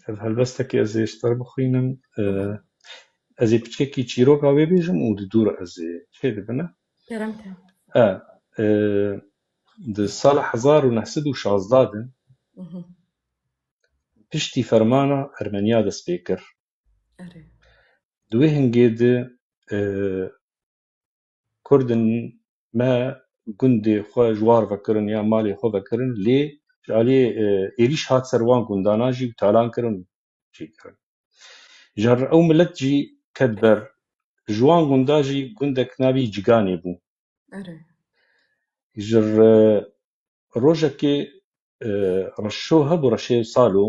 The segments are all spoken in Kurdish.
Ev helbestekî ez ê ji te re bixwînim. Ez ê piçekî çîroka wê bêjim û di dû re ez ê. Çê dibine? Kerem ke. E, di sala hezar û neh sed û şazdeh de piştî fermana Ermeniya dest pê kir. Erê. Di wê hingê de Kurdên me gundê xwe ji war vekirin yan malê xwe vekirin lê ji aliyê êrîş hat ser wan gundanan jî û talan kirin û çêkirin. Ji re ew milet jî ket ber. Ji wan gundan jî gundek navî Ciganê bû. Ji re rojekê reşo hebû reşê salo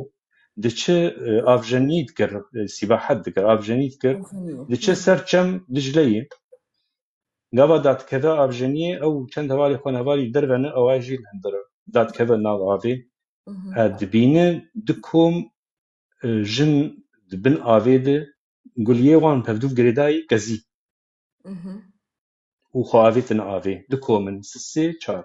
diçi avjenî dikir sîbahet dikir avjenî dikir diçi ser çem Dicleyê gava datkeve avjeniyê ew çend hevalê xwe hevalî dervene ew ay jî hindir datkeve nav avê dibîne du kom jin di bin avê de guliyê wan pevdûv girêdayî kezî û xwe avêtine avê du komin sisê çar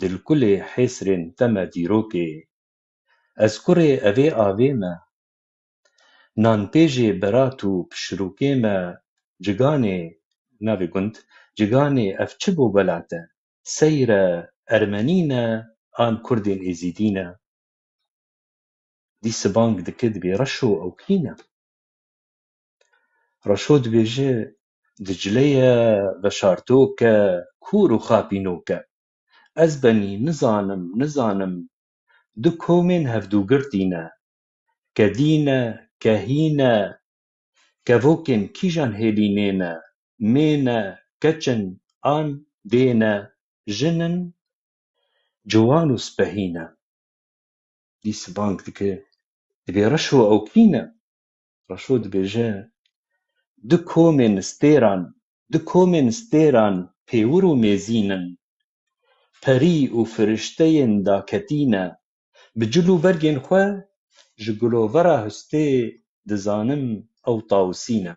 dilkulê hêsrên te me dîrokê. Ez kurê evê avê me. Nanpêjê berat û pişirokê me Ciganê, navê gund, Ciganê ev çi bo welat e? Seyre Ermenî ne an kurdên Êzîdî ne? Dî sibank dike dibê Reşo ew kî ne? Reşo dibêje Dicle ye veşartok e, kûr û xapînok e. Ez benî nizanim, nizanim du komên hevdûgirtî ne. Kedî ne, kehî ne, kevokên kîjan hêlî nê ne, mê ne, keç in, an dê ne, jin in, ciwan û spehî ne. Dî sibank dike, divê reş û ewkî ne. Reşo dibêje, Du komên stêran, du komên stêran pêwir û mêzîn in. Perî û firişteyên daketî ne. Bi cil û bergên xwe ji gulovera hustê dizanim ew tawusî ne.